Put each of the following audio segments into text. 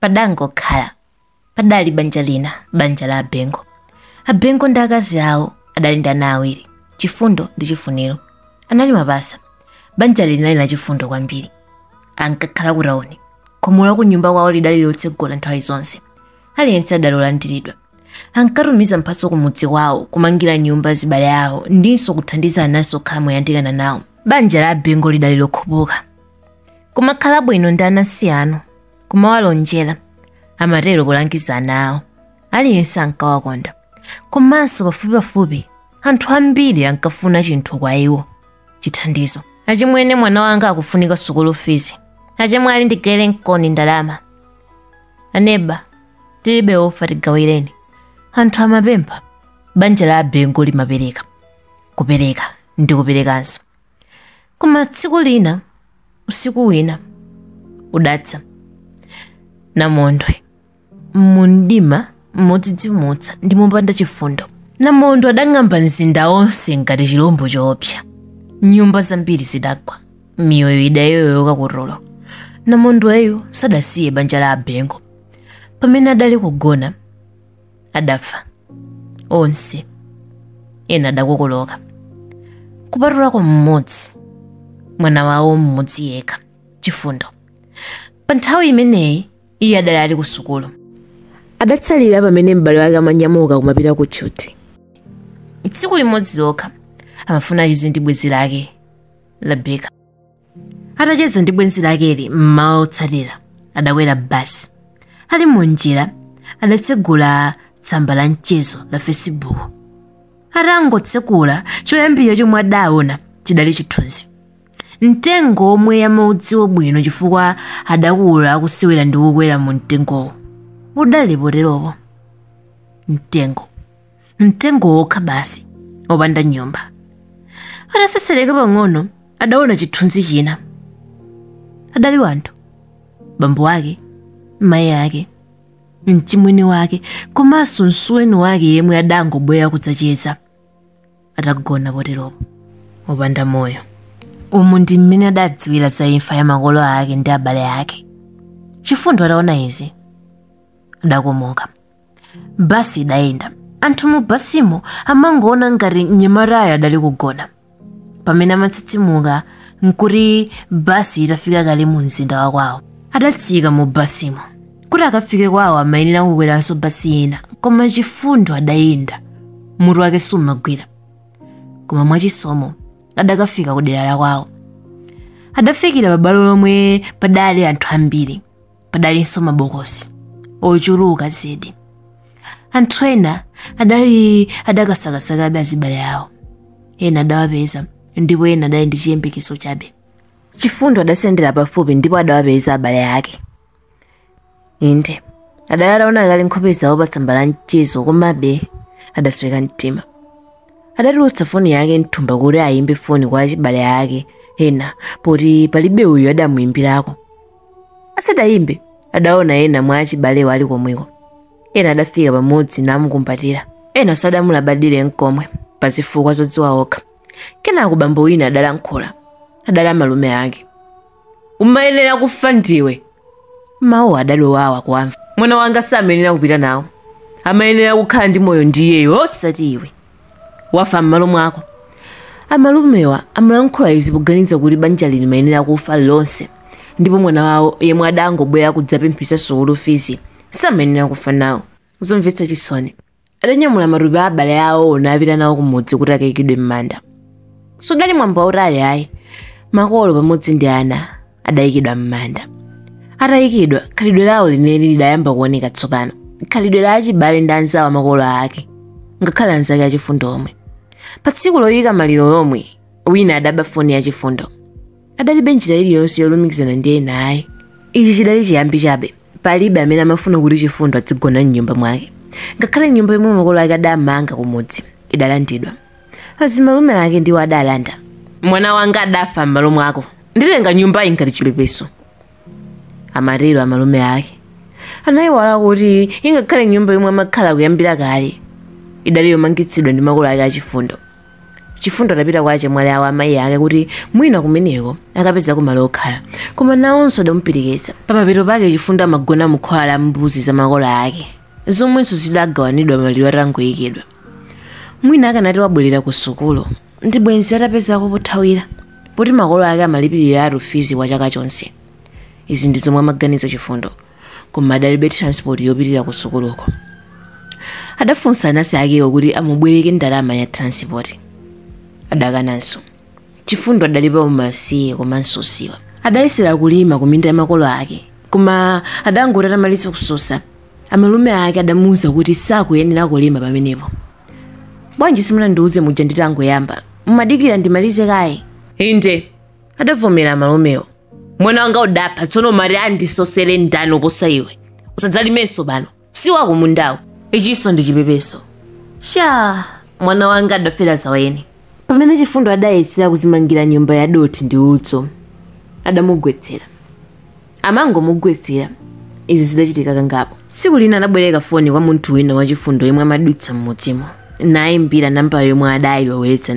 padangokhala padali banja lina banja la abengo abengo ndi akazi awo adali ndi ana awiri chifundo ndi chifuniro anali mapasa banja linali la chifundo kwambiri ankakhala ku tauni khomo la kunyumba kwawo lidali lotsegola nthawi zonse aliyense adali olandiridwa ankatumiza mphatso ku mudzi kwawo kumangira nyumba zibale awo ndinso kuthandiza ananso okhala moyandikana nawo banja la abengo lidali lokhupuka kumakhala bwino ndi anansi anu kumawalonjera amatero kulangiza ana awo aliyense ankawakonda komanso pafupipafupi anthu ambiri ankafuna chinthu kwa iwo chithandizo achimwene mwana wanga akufunika sukulu fizi achemwali ndigaire mkoni ndalama aneba tilibe ufa tigawireni anthu amapempha banja la abengo limapereka kupereka ndi kuperekanso koma tsiku lina usiku wina udadza namondwe mumdima modzidzimutsa ndi mopanda chifundo namondwe adang'amba mzinda wonse ngati chilombo choopsa nyumba zambiri zidagwa miyoyo idayoyoka kutulo namondweyu sadasiye banja la abengo pamene adali kugona adafa onse ena adakokoloka kupatulako mmodzi mwana wawo mmodzi yekha chifundo pa nthawi imeneyi iye adali ali ku sukulu adatsalira pamene m'bale wake amanyamuka kumapita ku tchuthi tsiku limodzi lokha amafuna acheze ndi bwenzi lake Rebeka atacheza ndi bwenzi lakeli mmawa wotsatira adakwera basi ali munjira adatsegula tsamba la mchezo la facebook atangotsekula choyambirira chomwe adaona chidali chithunzi mtengo womwe amaudziwa bwino chifukwa adakula akusewera ndi kukwera mu mtengowo udali poteropo mtengo mtengo wokha basi wopanda nyumba atasesereka pang'ono adaona chithunzi china adali anthu bambo wake mayi ake mchimwene wake komanso msuweni wake yemwe adangobwera kudzacheza atagona poteropo opanda moyo umu ndi mmene adadziwira za imfa ya makolo ake ndi abale ake chifundo ataona izi adakomoka basi idayenda anthu mu basimo amangoona ngati mnyamatayo adali kugona pamene amatsitsimuka nkuti basi itafika kale mu mzinda wa kwawo adatsika mu basimo kuti akafike kwawo amayenera kukweranso basi ina koma chifundo adayenda mutu wake sumagwira koma mwachisomo adakafika ku dera la kwawo adafikira pabwalo lomwe padali anthu ambiri padalinso mabokosi ochuluka zedi anthu ena adali adakasakasakabe azibale awo ena adawapeza ndipo ena adali ndi chiyembekezo chabe chifundo adasendera pafupi ndipo adawapeza abale ake inde adali ataona kale nkhope zawo pa tsamba la mchezo komabe adasweka mtima adatulutsa foni yake mthumba kuti ayimbe foni kwa achibale ake ena poti palibe uyo adamuyimbirako asadayimbe adaona ena mwa achibalewo ali komweko ena adafika pamodzi namukumbatira ena sadamulabadire nkomwe pa zifukwa zodziwa okha kenako bambo wina adalankhula adali amalume ake umayenera kufa ndiwe mawuwa adali owawa kuwamva mwana wanga samayenera kupita nawo amayenera kukhala ndi moyo ndi iyeyo osati iwe wafa m'malo mwako. Amalumewa amalankhula izi poganiza kuti banjali limayenera kufa lonse ndipo mwana wawo yemwe adangobwera kudzapempha sukulu fizi samayenera kufa nawo. Zomvetsa chisoni, adanyamula matupi a abale awowo napita nawo kumudzi kuti akaikidwe m'manda. Sudali mwambo wautali ayi, makolo pamodzi ndi ana adayikidwa m'manda atayikidwa khalidwe lawo lenileni lidayamba kuoneka tsopano khalidwe la achibale ndi anzawo a makolo ake ngakhale anzake a chifundo omwe pa tsiku loyika maliro lomwe wina adaba foni ya chifundo adalibe njira iliyonse yolumikizana ndi ena ayi ichi chidali chiyambi chabe palibe amene amafuna kuti chifundo adzigona m'nyumba mwake ngakhale nyumba yomwe makolo ake adamanga kumudzi idalandidwa azimalume ake ndiwo adalanda mwana wanga adafa m'malo mwako nditenga nyumbayi ngati chipepeso amatero amalume ake anayiwala kuti ingakhale nyumba yomwe amakhala kuyambira kale idali yomangitsidwa ndi makolo ake a chifundo chifundo adapita kwa achemwali awo a mayi ake kuti mwina kumeneko akapezako malo okhala koma nawonso adamupirikitsa pamapeto pake chifundo amagona mukhola la mbuzi za makolo ake zomwenso zidagawanidwa maliro atangoyikidwa mwina akanati wabwerera ku sukulu ndi bwenzi atapezako pothawira poti makolo ake amalipiriratu fizi kwa chaka chonse izi ndi zomwe amaganiza chifundo koma adalibe transport yopitira ku sukuluko adafunsa anansi akewo kuti amubwereke ndalama ya transport adakananso chifundo adali pa umasiye komanso usiwa adayesera kulima kuminda ya makolo ake koma adangoti atamaliza kusosa amalume ake adamuwuza kuti sakuyenera kulima pamenepo bwanji simunandiwuze muja nditangoyamba mumadikira ndimalize kaye inde adavomera amalumewo mwana wanga udapha tsono mati andisosere ndani kuposa iwe usadzalimenso pano si wako mundawo icho ndi chipepeso cha mwana wanga adafera zaweni pamene chifundo adayesera kuzimangira nyumba ya dothi ndi udzu adamugwetsera amangomugwetsera izi zidachitika kangapo tsiku lina adabwereka foni kwa munthu wina wachifundo yemwe amadutsa m'mudzimo nayimbira nambala yomwe adayilowetsa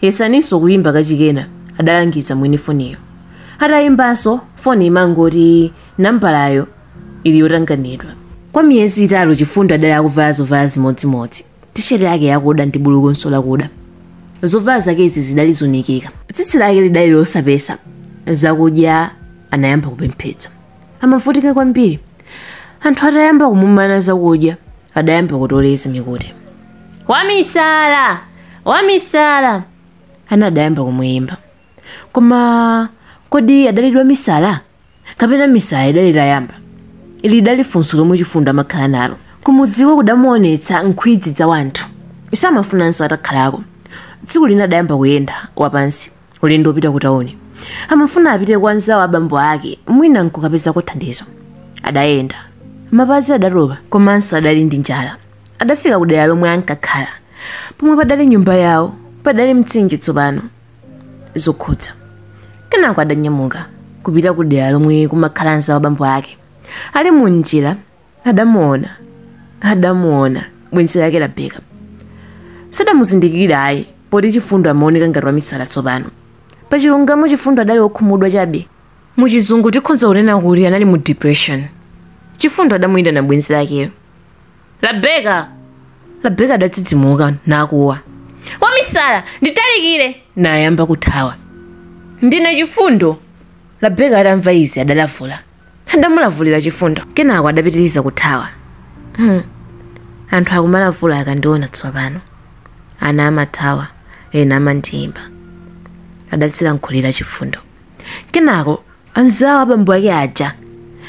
Yesaninso kuyimba kachikenanso, adalangiza mwini foniyo. Atayimbanso, foni imangoti nambalayo ili yotanganidwa. Kwa miyezi itatu Chifundo adali akuvala zovala zimodzimodzi, tisheti yake yakuda ndi bulukunso lakuda. Zovala zakezi zidali zonunkha. Tsitsi lake lidali losapesa, zakudya anayamba kupemphetsa. Amavutika kwambiri. Anthu atayamba kumumana zakudya, adayamba kutoleza mikuti wamisala wamisala ana adayamba kumuyimba koma kodi adali wamisala kapena misala idali itayamba ili lidali funso lomwe chifundo amakhala nalo kumudziko kudamuonetsa nkhwidzi za anthu samafunanso atakhalako tsiku lina adayamba kuyenda wapansi ulendo wopita ku tauni amafuna apite kwa anzawo a bambo ake mwina nkukapezako thandizo adayenda mapazi adatopa komanso adali ndi njala adafika ku dera lomwe ankakhala pomwe padali nyumba yawo padali mtsinje tsopano zokhudza kenako adanyamuka kupita ku dera lomwe kumakhala anzawo a bambo ake ali mu njira adamuona adamuona bwenzi lake labeka sadamuzindikire ayi poti chifundo amaoneka ngati wamisala tsopano pachilungamo chifundo adali wokhumudwa chabe muchizungu tikhonza kunena kuti anali mu depression chifundo adamuyitana bwenzi lakeyo labeka labeka adadzidzimuka nakuwa wamisala nditalikire nayamba kuthawa ndine chifundo labeka adamva izi adalavula adamulavulira chifundo kenako adapitiriza kuthawa hmm. anthu akumalavula akandiona tsopano ana amathawa ena amandiyimba adadzilankhulira chifundo kenako anzawo abambo ake aja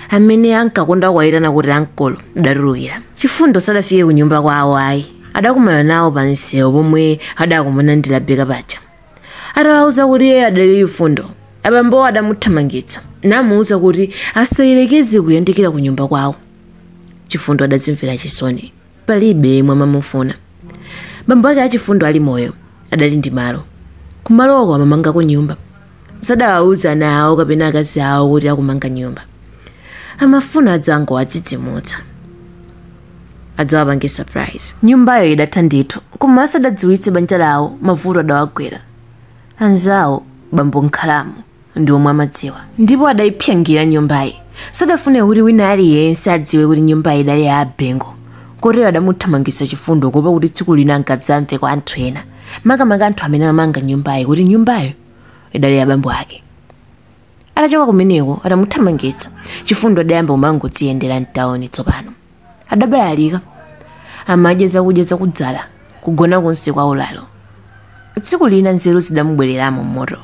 amene ankakonda kuwayitana kuti ankolo adatulukira chifundo sadafike ku nyumba kwawo ayi adakumana nawo pa msewu pomwe adakumana ndi labeka paja atawauza kuti iye adali chifundo abambowo adamuthamangitsa namuuza kuti asayerekeze kuyandikira ku nyumba kwawo chifundo adadzimvera chisoni palibe yemwe amamufuna bambo ake achifundo ali moyo adali ndi malo kumaloko amamangako nyumba sadawauza ana awo kapena akazi awo kuti akumanga nyumba amafuna adzangowadzidzimutsa adzawapange surprise nyumbayo idatha ndithu koma asadadziwitse banja lawo mavuto adawagwera anzawo bambo nkhalamu ndi omwe amadziwa ndipo adayipsangira nyumbayi sadafune kuti wina aliyense adziwe kuti nyumbayi idali ya abengo kotero adamuthamangitsa chifundo kuopa kuti tsiku lina angadzamve kwa anthu ena makamaka anthu amene amamanga nyumbayi kuti nyumbayo idali ya bambo ake atachoka kumeneko atamuthamangitsa chifundo adayamba kumangodziyendera mtawuni tsopano adabalalika amadya zakudya zakudzala kugona konse kwa ulalo tsiku lina nzeru zidamubwereramo mmutu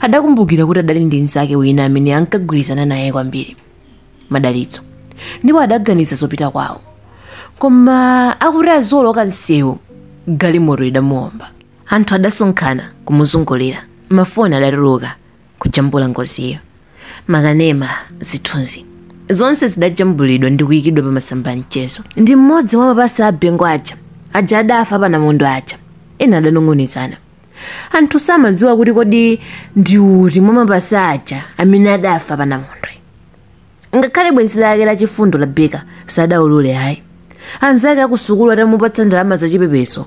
adakumbukira kuti adali ndi mnzake wina amene ankagwirizana naye kwambiri madalitso ndipo adaganiza zopita kwawo koma akuti azioloka msewu galimoto idamuomba anthu adasonkhana kumuzungulira mafoni adatuluka kujambula ngoziyo makanema zithunzi zonse zidajambulidwa ndi kuyikidwa pa masamba a mchezo ndi mmodzi mwa mapasa a bengo aja aja adafa panamondwe aja ena adanong'onezana anthu samadziwa kuti kodi ndi uti mwa mapasa aja amene adafa panamondwe ngakhale bwenzi lake la chifundo labeka sadaulule ayi anzake akusukulu atamupatsa ndalama za chipepeso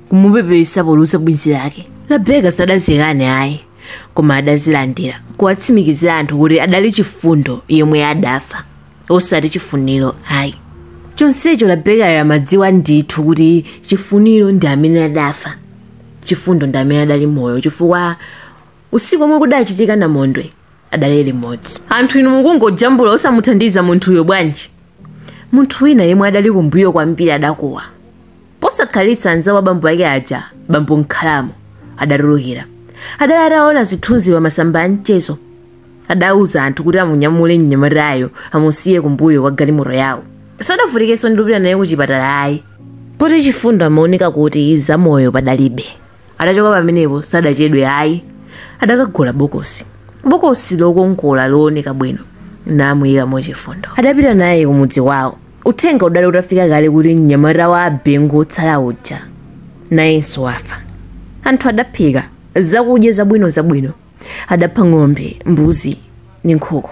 kumupepesa poluza bwenzi lake labeka sadazikane ayi koma adazilandira kuwatsimikizira anthu kuti adali chifundo yemwe adafa osati chifuniro ayi chonsecho labekayo amadziwa ndithu kuti chifuniro ndi amene adafa chifundo ndi amene adali moyo chifukwa usiku omwe kudachitika namondwe adali limodzi anthu inu mukungojambula osamuthandiza munthuyo bwanji munthu wina yemwe adali kumbuyo kwambiri adakuwa posakhalitsa anzawo abambo ake aja bambo nkhalamu adatulukira adali ataona zithunzi pa masamba a mchezo adauza anthu kuti amunyamule mnyamatayo amusiye kumbuyo kwa galimoto yawo sadavutikenso ndi kupita naye ku chipatala ayi poti chifundo amaoneka kuti zamoyo padalibe adachoka pamenepo sadachedwe ayi adakagula bokosi bokosi lokongola looneka bwino namuyika mo chifundo adapita naye kumudzi wawo uthenga udali utafika kale kuti mnyamata wa abengo otsala uja nayenso wafa anthu adaphika zakudya zabwino zabwino adapha ng'ombe mbuzi ndi nkhuku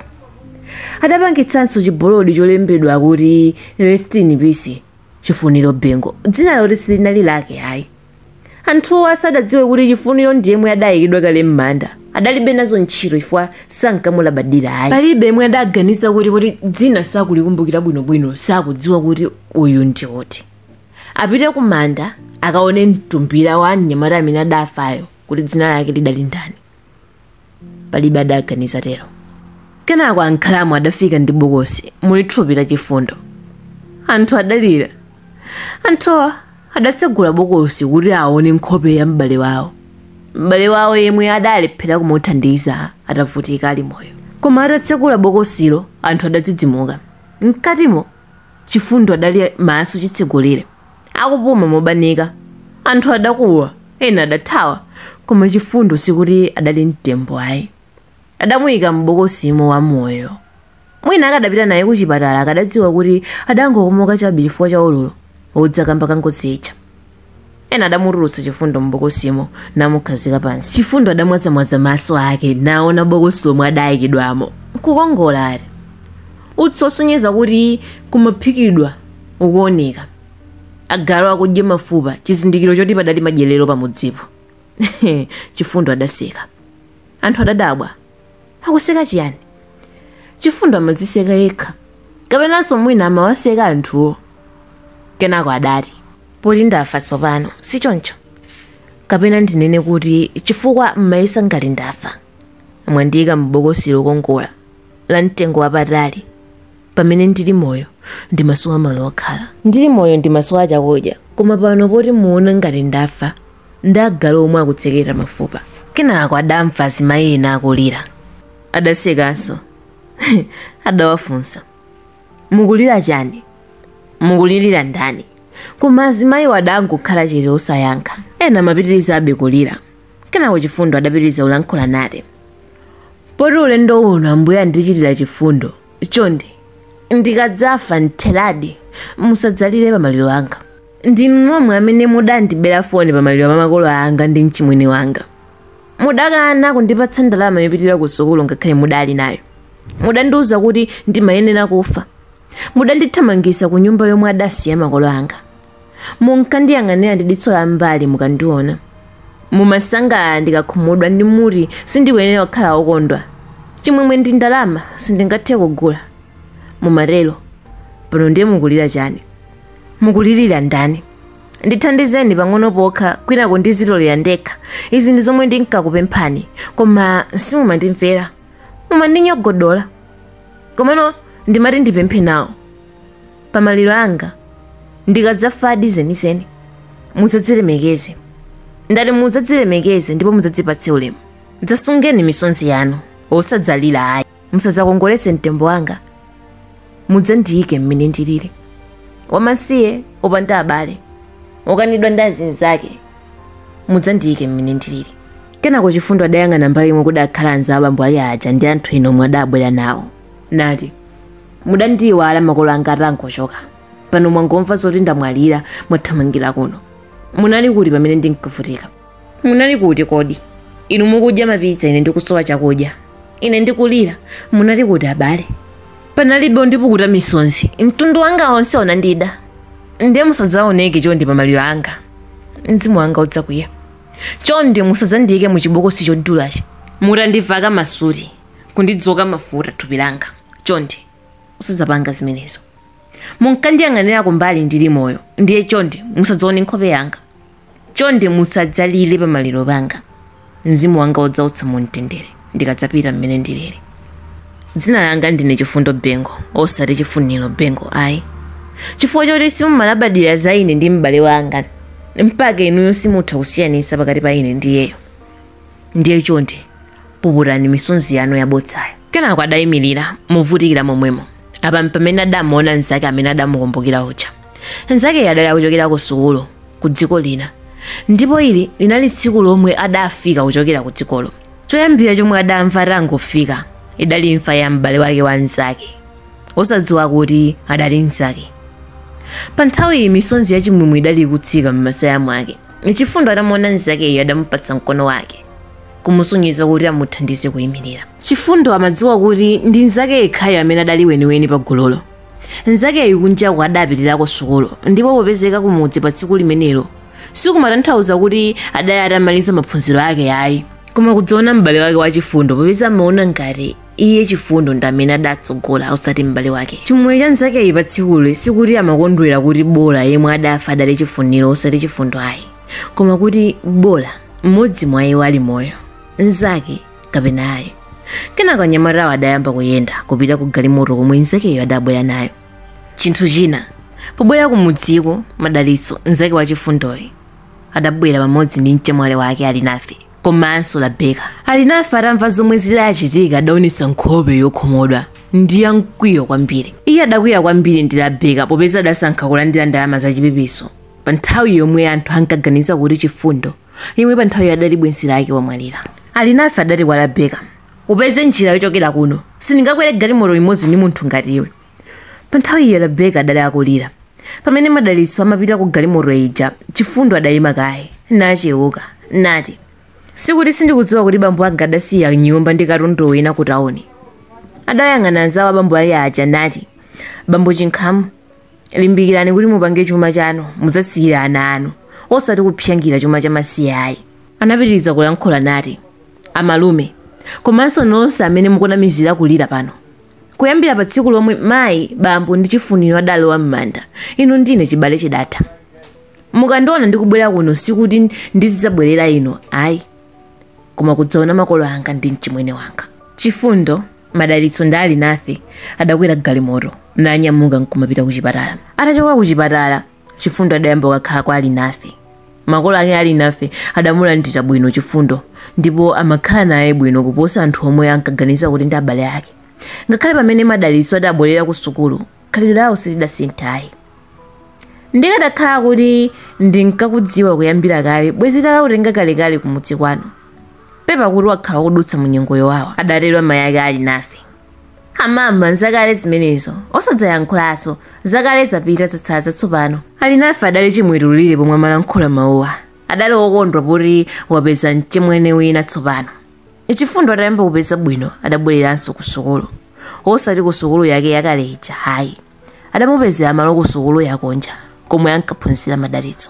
adapangitsanso chibolodi cholembedwa kuti rest in peace chifuniro bengo dzina loti silinali lake ayi Anthuwa sadadziwe kuti Chifuniro ndi yemwe adaikidwa kale m'manda. Adalibe nazo ntchito chifukwa sankamulabadira ayi. Palibe yemwe adaganiza kuti poti dzina sakulikumbukira bwinobwino sakudziwa kuti uyu ndi uti. Apite kumanda akaone mtumbira wa mnyamata amene adafayo kuti dzina lake lidali ndani. palibe adaganiza tero kenako ankhalamu adafika ndi bokosi muli thupi la chifundo anthu adalira anthu adatsegula bokosi kuti aone nkhope ya m'bale wawo m'bale wawo yemwe adalephera kumuthandiza atavutika ali moyo koma atatsegula bokosilo anthu adadzidzimuka mkatimo chifundo adali maso chitsegulire akupuma mobanika. Anthu adakuwa, ena adathawa, koma Chifundo sikuti adali mtembo ayi. Adamuika m'bokosimo wamoyo. Mwina akadapita naye kuchipatala akadadziwa kuti adangokomoka chabe chifukwa cha ululu wodza kamba ka ngozi ija. Ena adamutulutsa Chifundo m'bokosimo namukhazika pansi. Chifundo adamwazamwaza maso ake naona bokosi lomwe adaikidwamo. Nkukongoladi! Utsi wosonyeza kuti kumaphikidwa. ukuoneka agalu akudya mafupa chizindikiro choti padali madyerero pamudzipo chifundo adaseka anthu adadabwa akuseka chiyani chifundo amaziseka yekha kapenanso mwina amawaseka anthuwo kenako adati poti ndafa tsopano si choncho kapena ndinene kuti chifukwa mmayesa ngati ndafa mwandiyika m'bokosi lokongola la mtengo wapatali Pamene ndili moyo, ndimasowa malo okhala. Ndili moyo ndimasowa chakudya. Koma pano poti muona ngati ndafa, ndi agalu omwe akutsekera mafupa. Kenako adamva azimayi ena akulira. Adasekanso. Adawafunsa, Mukulira chani? Mukulirira ndani? Koma azimayiwo adangokhala chete osayankha. Ena amapitirizabe kulira. Kenako Chifundo adapitiriza kulankhula nati, Poti ulendo uno Ambuye andichitira chifundo, Chonde, ndikadzafa mtheradi, musadzalire pamaliro anga. Ndinu nomwe amene mudandibera foni pamaliro pa makolo anga ndi mchimwene wanga. Mudakana kundipatsa ndalama yopitira kusukulu ngakhale mudali nayo. Mudandiuza kuti ndimayenera kufa. Mudandithamangisa ku nyumba yomwe adasiya makolo anga. munkandiyang'anira ndi diso la m'mbali mukandiona mumasangalala ndikakhumudwa ndi mumati sindikuyenera kukhala wokondwa chimwemwe ndi ndalama sindingathe kugula mumatero pano ndiye mukulira chani mukulirira ndani ndithandizeni pang'ono pokha kwinako ndizitolera ndekha izi ndi zomwe ndinkakupemphani koma simumandimvera mumandinyogodola komano ndimati ndipemphe nawo Pa maliro anga, ndikadzafadi zenizeni, mudzadzilemekeze. Ndati mudzadzilemekeze ndipo mudzadzipatse ulemu. Dzasungeni misonzi yanu, osadzalira ayi. Musadzakongoletse mtembo wanga, mudzandiyike mmene ndilili. Wamasiye, opanda abale, okanidwa ndi azinzake, mudzandiyike mmene ndilili. Kenako Chifundo adayang'ana mbali yomwe kudakhala anzawo a bambo ake aja ndi anthu ena omwe adabwera nawo. nati mudandiiwala makolo anga atangochoka pano mwangomva zoti ndamwalira mwathamangira kuno munali kuti pamene ndinkavutika munali kuti kodi inu mukudya mapitsa ine ndikusowa chakudya ine ndikulira munali kuti abale panalibe undipukuta misonzi mtundu wanga onse unandida ndiye musadzaoneke chonde pa maliro anga mzimu wanga udzakwiya chonde musadzandiyike mu chibokosi chodulachi mutandiveka masuti kundidzoka mafuta thupi langa. Chonde, osadzapanga zimenezo. Munkandiyang'anira kumbali ndili moyo, ndiye chonde musadzaone nkhope yanga. Chonde musadzalire pa maliro panga. Mzimu wanga udzausa mumtendere ndikadzapita mmene ndilili. Dzina langa ndine Chifundo Bengo, osati Chifuniro Bengo ayi. Chifukwa choti simumalabadira za ine ndi m'bale wanga, mpaka inuyo simutha kusiyanitsa pakati pa ine ndi iyeyo. ndiye chonde puputani misonzi yanu yabodzayo kenako adayimirira movutikira momwemo apa m'pamene adamuona mnzake amene adamukumbukira uja mnzakeyo adali akuchokera ku sukulu ku dziko lina ndipo ili linali tsiku lomwe adafika kuchokera ku dzikolo choyambira chomwe adamva atangofika idali imfa ya m'bale wake wa mnzake osadziwa kuti adali mnzake pa nthawi iyi misonzi yachimwemwe idali ikutsika m'masaya mwake Chifundo atamuona mnzakeyo adamupatsa mkono wake kumusonyeza kuti amuthandize kuyimirira. Chifundo amadziwa kuti ndi mnzake yekhayo amene adali weniweni pa gululo. Mnzakeyu kunjaku adapitirako sukulu ndipo popezeka kumudzi pa tsiku limenelo sikumatanthauza kuti adali atamaliza maphunziro ake ayi. Koma kudzaona m'bale wake wa Chifundo popeza amaona ngati iye chifundo ndi amene adatsogola osati m'bale wake chimwemwe cha mnzakeyu pa tsikuli sikuti amakondwera kuti bola yemwe adafa adali chifuniro osati chifundo ayi koma kuti bola mmodzi mwa iwo ali moyo mnzake kapena ayi kenako anyamatawo adayamba kuyenda kupita ku galimoto yomwe mnzakeyo adabwera nayo chinthu china pobwera kumudziko madalitso mnzake wa chifundoyu adabwera pamodzi ndi mchemwali wake alinafe komanso rabeka alinafe atamva zomwe zidachitika adaonetsa nkhope yokhumudwa ndi yamkwiyo kwambiri iye adakwiya kwambiri ndi rabeka popeza adasankha kulandira ndalama zachipepeso pa nthawi yomwe anthu ankaganiza kuti chifundo yemwe pa nthawiyo adali bwenzi lake wamwalira alinafe adati kwa rabeka upeze njira yochokera kuno sindingakwere galimoto limodzi ndi munthu ngati iwe Pa nthawiyo Rabeka adali akulira. Pamene Madalitso amapita ku galimoto ija, Chifundo adayima kaye, nachewuka, nati, Sikuti sindikudziwa kuti bambo anga adasiya nyumba ndi katundu wina ku tawuni. Adayang'ana anzawo a bambo ake aja nati, Bambo Chinkhamu, limbikirani kuti mupange chuma chanu mudzasiyire ana anu, osati kupsyangira chuma chamasiye ayi. Anapitiriza kulankhula nati, Amalume, komanso nonse amene mukunamizira kulira pano, Kuyambira pa tsiku lomwe mayi, bambo ndi Chifuniro adalowa m'manda, inu ndi ine chibale chidatha. Mukandiona ndikubwera kuno sikuti ndizidzabwerera inu ayi, koma kudzaona makolo anga ndi mchimwene wanga. Chifundo, Madalitso ndi Alinafe adakwera galimoto nanyamuka n'kumapita kuchipatala. Atachoka kuchipatala, Chifundo adayamba kukakhala kwa Alinafe. Makolo ake a Alinafe adamulandira bwino Chifundo ndipo amakhala naye bwino kuposa anthu omwe ankaganiza kuti ndi abale ake. Ngakhale pamene Madalitso adabwerera kusukulu, khalidwe lawo silidasinthe ayi. Ndikadakhala kuti ndinkakudziwa kuyambira kale, bwenzi titakakutenga kalekale kumudzi kwanu. Pepa kuti wakhala ukudutsa mu nyengo yowawa, adatero amayi ake a Alinafe. amama nzakale zimenezo osadzayankhulanso zakale zapita zatsala zatsopano Alinafe adali chimwetulire pomwe amalankhula mawuwa adali wokondwa poti wapeza mchimwene wina tsopano chifundo atayamba kupeza bwino adabwereranso ku sukulu osati ku sukulu yake yakale ija ayi adamupezera malo ku sukulu yakunja komwe ankaphunzira madalitso